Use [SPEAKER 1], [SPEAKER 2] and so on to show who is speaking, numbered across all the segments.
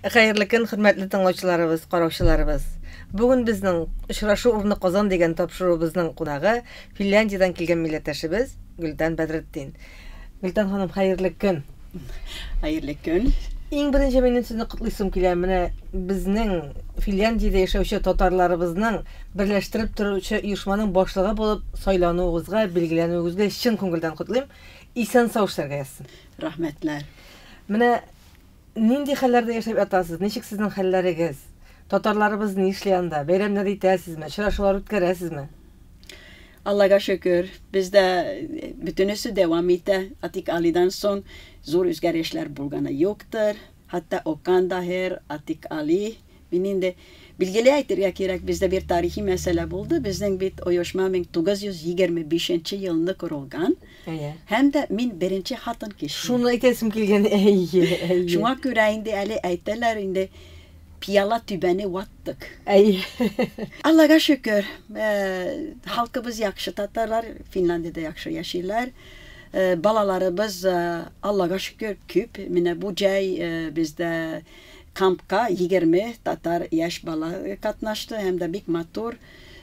[SPEAKER 1] Хәерле көн, хөрмәтле тыңлаучыларыбыз, караучыларыбыз. Бүген безнең очрашу урны Казан дигән тапшыруыбызның кунагы Финляндиядән килгән милләттәшебез Гөлтан Бәдретдин. Гөлтан ханым, хәерле көн. Хәерле
[SPEAKER 2] көн. Иң беренче минем
[SPEAKER 1] сезне котлыйсым килә. Менә безнең Финляндиядә яшәүче татарларыбызның берләштереп торучы оешманың башлыгы булып сайлануыгызга, билгеләнүегезгә чын күңелдән котлыйм. Исән сау эшләргә язсын. Рәхмәтләр.
[SPEAKER 2] Менә
[SPEAKER 1] Нинди хәлләрдә яшәп ятасыз, ничек сезнең хәлләрегез? Татарларыбыз нишли анда? Бәйрәмнәр итәсезме, очрашулар үткәрәсезме?
[SPEAKER 2] Аллага шөкер, бездә бөтенесе дәвам итә. Атик Алидан соң зур үзгәрешләр булганы юктыр. Хәтта Окан Даһир, Атик Али, Мин инде билгели әйтергә кирәк, бездә бер тарихи мәсьәлә булды, безнең бит оешма 1925 нче елны корылган, Әйе. һәм дә мин беренче хатын кеше. Шуны әйтәсем килгән,
[SPEAKER 1] әйе, әйе. Шуңа
[SPEAKER 2] күрә инде әле әйтәләр инде, пиала түбәне ваттык. Әйе. Аллага шөкер, халкыбыз яхшы, татарлар Финляндиядә яхшы яшиләр, балаларыбыз, Аллага шөкер, күп, менә бу җәй бездә, Кампка егерме татар яшь бала катнашты һәм дә бик матур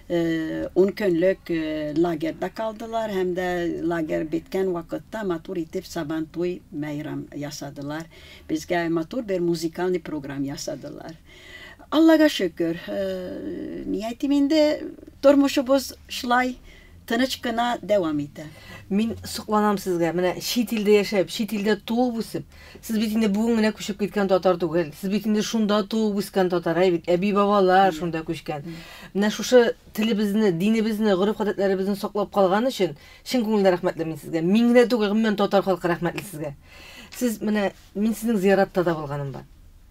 [SPEAKER 2] ун көнлек лагерьда калдылар һәм дә лагерь беткән вакытта матур итеп сабан туй бәйрам ясадылар. Безгә матур бер музыкальный программ ясадылар. Аллага шөкер, ни әйтим инде, тормышыбыз шулай тыныч кына дәвам итә. Мин сокланам
[SPEAKER 1] сезгә, менә чит илдә яшәп, чит илдә туып үсеп, Сез бит инде бүген генә күчеп киткән татар түгел. Сез бит инде шунда туып үскән татар, әй бит, әби-бабалар шунда күчкән. Менә шушы телебезне, динебезне, гореф-гадәтләребезне саклап калган өчен чын күңелдән рәхмәтле мин сезгә. Мин генә түгел, гомумән татар халкы рәхмәтле сезгә. Сез менә, мин сезнең зияратта да булганым бар.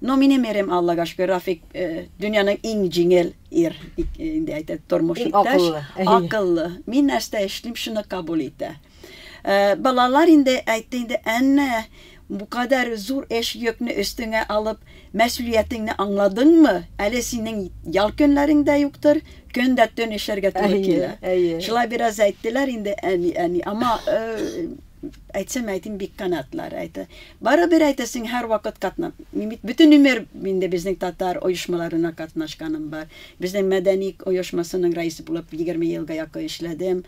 [SPEAKER 2] Но минем ирем Аллага шөкер Рафик дөньяның иң җиңел ир инде әйтә тормыш иптәш акыллы мин нәрсә эшлим шуны кабул итә балалар инде әйтте инде әннә бу кадәр зур эш йөкне өстеңә алып мәсүлиятеңне аңладыңмы әле синең ял көннәрең дә юктыр көн дә төн эшләргә туры килә шулай бераз әйттеләр инде әни әни ама Әйтсәм әйтим, бик канатлар әйтә. Барыбер әйтә, син һәрвакыт катна. Мин бит бөтен өмер инде безнең татар оешмаларына катнашканым бар. Безнең мәдәни оешмасының рәисе булып 20 елга якын эшләдем.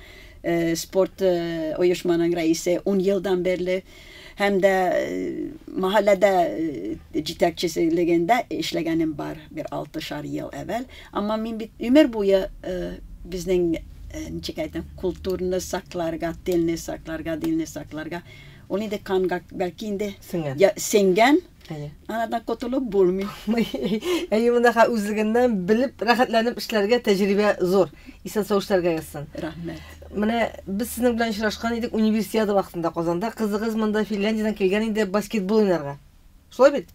[SPEAKER 2] Э, спорт э, оешманың рәисе 10 елдан бирле һәм дә э, мәхәлләдә җитәкчелегендә эшләгәнем бар бер 6 шар ел әвәл. Әмма мин бит гомер буе безнең, ничек әйтәм, культурны сакларга, телне сакларга, динне сакларга, ул инде канга, бәлки инде, сеңгән, анадан котылып булмый. Әйе,
[SPEAKER 1] мондагы үзлегеннән белеп, рәхәтләнеп эшләргә тәҗрибә зур. Исән-сау эшләргә язсын. Рәхмәт. Менә
[SPEAKER 2] без
[SPEAKER 1] сезнең белән очрашкан идек универсиада вакытында Казанда. Кызыгыз монда Финляндиядән килгән иде баскетбол уйнарга. Шулай бит?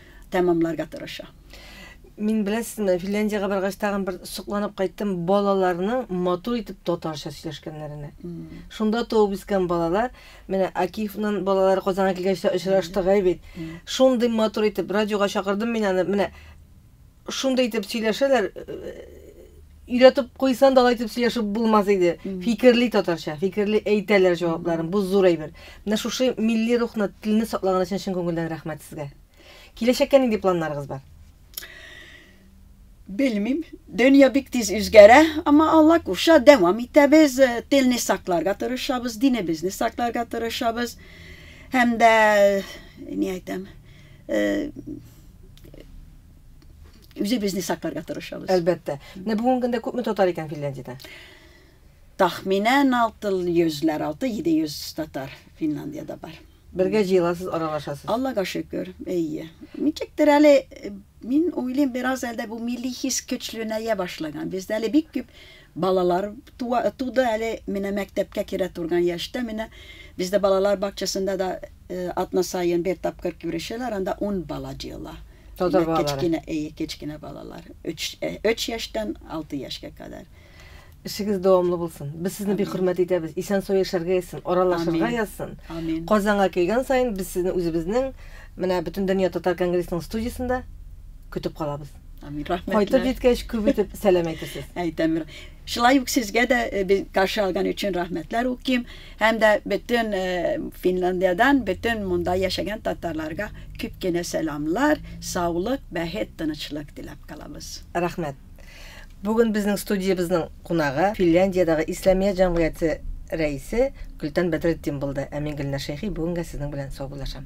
[SPEAKER 2] тәмамларга тырыша. Мин
[SPEAKER 1] беләсезме, Финляндиягә баргач тагын бер сокланып кайттым балаларның матур итеп татарча сөйләшкәннәренә. Шунда туып үскән балалар, менә Акифның балалары Казанга килгәч тә очраштык бит. Шундый матур итеп радиога чакырдым мин аны, менә Шундый итеп сөйләшәләр, өйрәтеп куйсан да алай итеп сөйләшеп булмас иде. Фикерли татарча, фикерли әйтәләр җавапларын. Бу зур әйбер. Менә шушы милли рухны, телне саклаган өчен чын күңелдән рәхмәт сезгә. Киләчәккә нинди планнарыгыз бар?
[SPEAKER 2] Белмим. Дөнья бик тиз үзгәрә, әмма Алла кушса, дәвам итәбез. Телне сакларга тырышабыз, динебезне сакларга тырышабыз. Һәм дә, ни әйтәм, үзебезне сакларга тырышабыз. Әлбәттә. Менә бүгенге
[SPEAKER 1] көндә күпме татар икән Финляндиядә?
[SPEAKER 2] Тахминән 600-ләр, 6-700 татар Финляндиядә бар.
[SPEAKER 1] Бергә җыеласыз, аралашасыз. Аллага шөкер,
[SPEAKER 2] әйе. Ничектер әле мин уйлыйм, бераз әлдә бу милли хис көчләнә башлаган. Бездә әле бик күп Балалар туа туды әле менә мәктәпкә керә турган яшьтә менә бездә балалар бакчасында да атна саен бер тапкыр күрешәләр анда ун бала җыела Татар балалары кечкенә
[SPEAKER 1] әйе кечкенә
[SPEAKER 2] балалар өч өч яшьтән алты яшькә кадәр. Эшегез
[SPEAKER 1] дәвамлы булсын. Без сезне бик хөрмәт итәбез. Исән-сау яшәргә язсын, аралашырга Амин. язсын. Амин. Казанга
[SPEAKER 2] килгән саен
[SPEAKER 1] без сезне үзебезнең менә Бөтендөнья татар конгрессының студиясендә көтеп калабыз. Амин, рәхмәтләр. Кайтып
[SPEAKER 2] җиткәч, күп итеп
[SPEAKER 1] сәлам әйтәсез. Әйтәм.
[SPEAKER 2] Шулай ук сезгә дә э, каршы алган өчен рәхмәтләр укыйм һәм дә бөтен э, Финляндиядән бөтен монда яшәгән татарларга күп кенә сәламлар, саулык, бәхет, тынычлык теләп калабыз. Рәхмәт.
[SPEAKER 1] Бүген безнең студиябезнең кунагы Финляндиядәге Исламия җәмгыяте рәисе Гөлтан Бәдретдин булды, ә мин Гөлнар Шәйхи бүгенгә сезнең белән саубуллашам.